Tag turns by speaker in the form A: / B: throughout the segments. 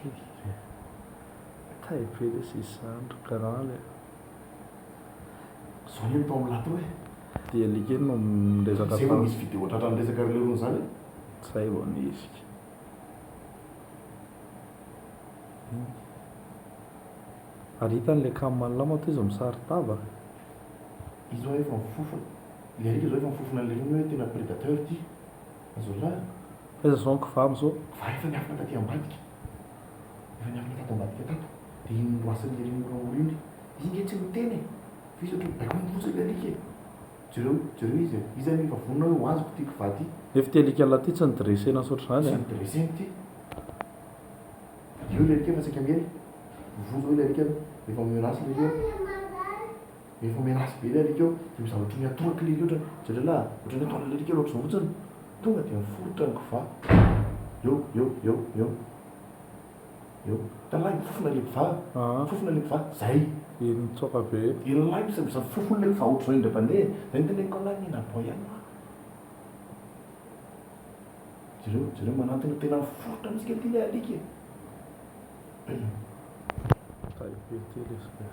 A: Fy e! Tay be lesy izany ry grand e! Zao le mitao mlat eo e! Dia like no miresaka fa. Zay vao nisy video tratran'ny resaka ry leirony zany e! Zay vao nisy ka. Ary hitany le cam an'la moa toiza misari-tava? Io zao efa mifofona. Ilay alika zao efa mifofona an'i leirony hoe tena predateur ty. Azonao lalana. Taiza zao ny kva am zao? Fa efa niafina taty ambadika efa niafina tato ambadika tato de iny loasan'ny ery moramora iny izy nge tsy miteny e fa izy ohatry ny baiko miroso ilay alika e jereo jereo izy e iza anie efa vonona hoe ho azoko ty kva ty Nefa ity alika lahy ity tsy nidresena tsy ohatry zany e. Tsy nidresena ity. Eo ilay alika fa saika miely. Mivozo ao ilay alika efa mirace ilay alika. Efa miaratsy be le alika eo de mizara otrany atao kle lotra ny zalalah a! Otrany atao le alika eo lotra zao fotsiny tonga de miforotra ny kva eo eo eo eo eo talahy mifofona le kva mifofona le kva zay i mitsoaka be ilay misa misa mifofona le kva otrzao indray bande e! zay ny teneniko anao mila aboay ihany ma jereo jereo manantona tena miforotra mintsy kety le alika e! Tahibe ty le sreo.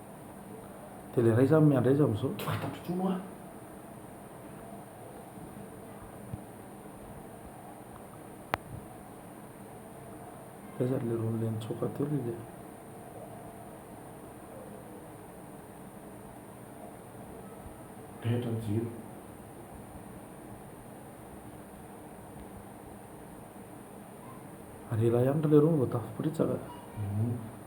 A: Dia ilay iray izany miandry aiza amin'izao? Tsy fantatro intsony hoa. Taiza ry leroa an'ilay nitsoaka teo ry lery? Taitra ny jiro. Ary ela ihany ry leroa no vao tafaporitsaka.